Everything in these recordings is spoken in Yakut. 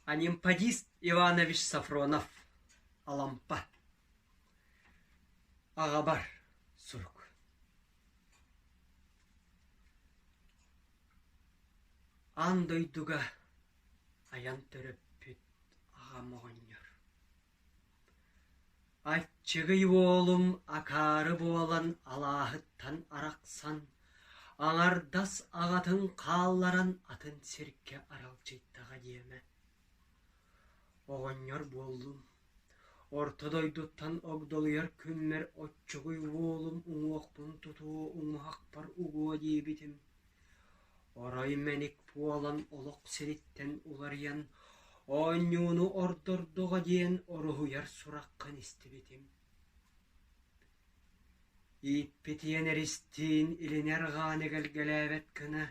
Анемподист Иванович Софронов Алампа Аҕабар сурук Аан дойдуга айан төрөппүт Аҕам оҕонньор Аччыгый уолум акаары буолан алааһыттан арахсан, аҥардас аҕатын хаалларан атын сиргэ аралдьыйдаҕа диэмэ. Оҕонньор буоллум, орто дойдуттан огдолуйар күммэр оччугуй уолум уҥуохпун тутуо уҥуһахпар угуо диэбитим Орой мэник буолан олох сириттэн уларыйан оонньууну ордордоҕо диэн уруһуйар сураххын истибитим ииппитийэн эристиин илинэр ҕааны кэлгэлээбэт гына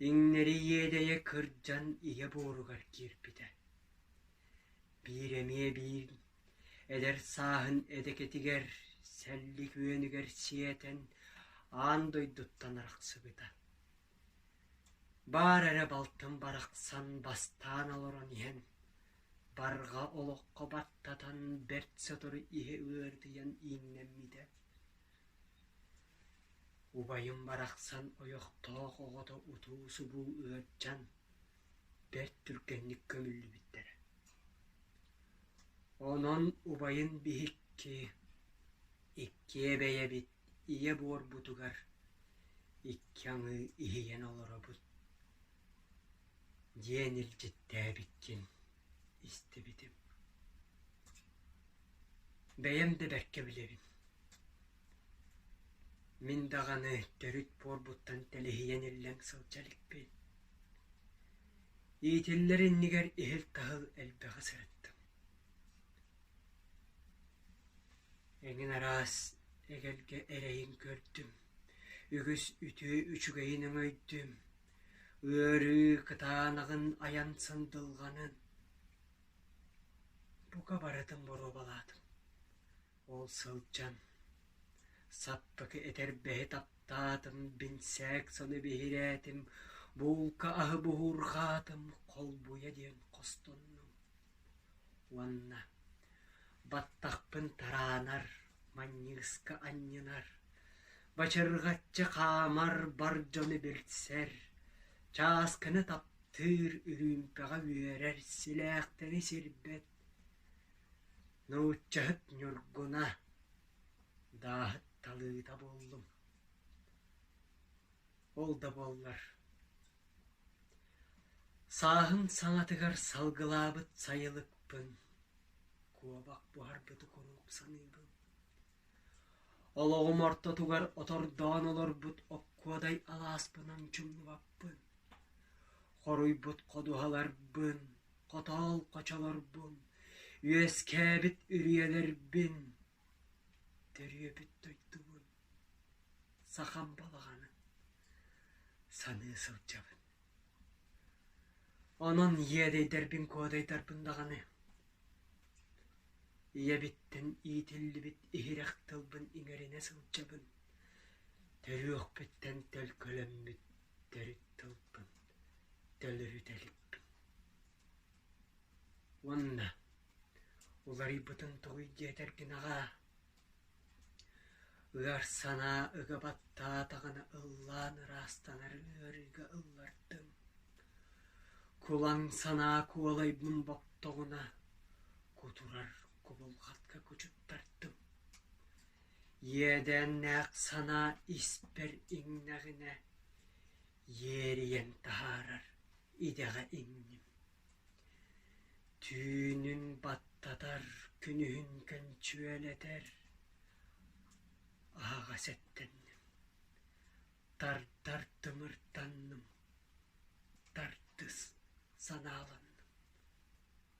иҥнэри иэдэйэ кырдьан ийэ буоругар киирбитэ биир эмиэ биир Эдэр сааһын эдэкэтигэр, сэлли күөнүгэр сиэтэн, аан дойдуттан арахсыбыта. Баар эрэ балтым барахсан бастаан олорон иһэн, барҕа олоххо баттатан бэрт сотору иһэ ыарытыйан ииннэммитэ. Убайым барахсан ойохтоох оҕото утуу-субуу ыалдьан, бэрт түргэнник көмүллүбүттэрэ онон убайын биһикки иккиэ бэйэбит ийэ буорбутугар икки аҥыы иһийэн олоробут диэн илдьиттээбиккин истибитим бэйэм да бэркэ билэбин Мин даҕаны төрүт буорбуттан тэлиһийэн иллэҥ сылдьа иликпин. Иитиллэр иннигэр иһил-таһыл элбэҕи сырыттым. Эҥин араас эгэлгэ эрэйин көрдүм, үгүс үтүө үчүгэйин өҥөйдүм, ыарыы кытаанаҕын айан сандылҕанын. Бука барытын боруобалаатым. Ол сылдьан саппыкы этэрбэһи таптаатым, бинсээк соно биһирээтим, буулка аһы буһуурҕаатым, холбуйа диэн хостоннум уонна баттахпын тараанар, манньыыска анньынар, бачырҕаччы хаамар, бар дьону билсэр, чааскыны таптыыр, үрүүмпэҕэ үөрэр, силээхтэни сирбэт Нууччаһыт Ньургуна дааһыт талыыта буоллум, ол да буоллар сааһын саҥатыгар салгылаабыт сайылыкпын куобах буһарбыты куруук саныыбын. Олоҕум ортотугар отордоон олорбут оккуодай алааспынан чумнубаппын, хоруйбут ходуһаларбын Хотоол хочолорбун, үөскээбит үрүйэлэрбин, төрүөбүт дойдубун, сахам балаҕанын саныы сылдьабын. Онон иэдэйдэрбин куодайдарбын даҕаны, ийэбиттэн иитиллибит иһирэх тылбын иҥэринэ сылдьабын, төрүөхпүттэн төлкөлөммүт төрүт тылбын төлөһүтэлим уонна уларыйбытын тугуй диэтэргин аҕаа ыар санаа ыга баттаатаҕына ыллаан ыраастанар ыарыыга ыллардым кулаҥ санаа куолайбын боттоҕуна кутурар кубулҕатка кучуттардым иэдээннээх санаа испэр иҥнэҕинэ Иэрийэн таһаарар идэҕэ иҥним түүнүн баттатар күнүһүн көнчүөлэтэр аһаҕас эттэнним тардар тымырданным тардыс санааланным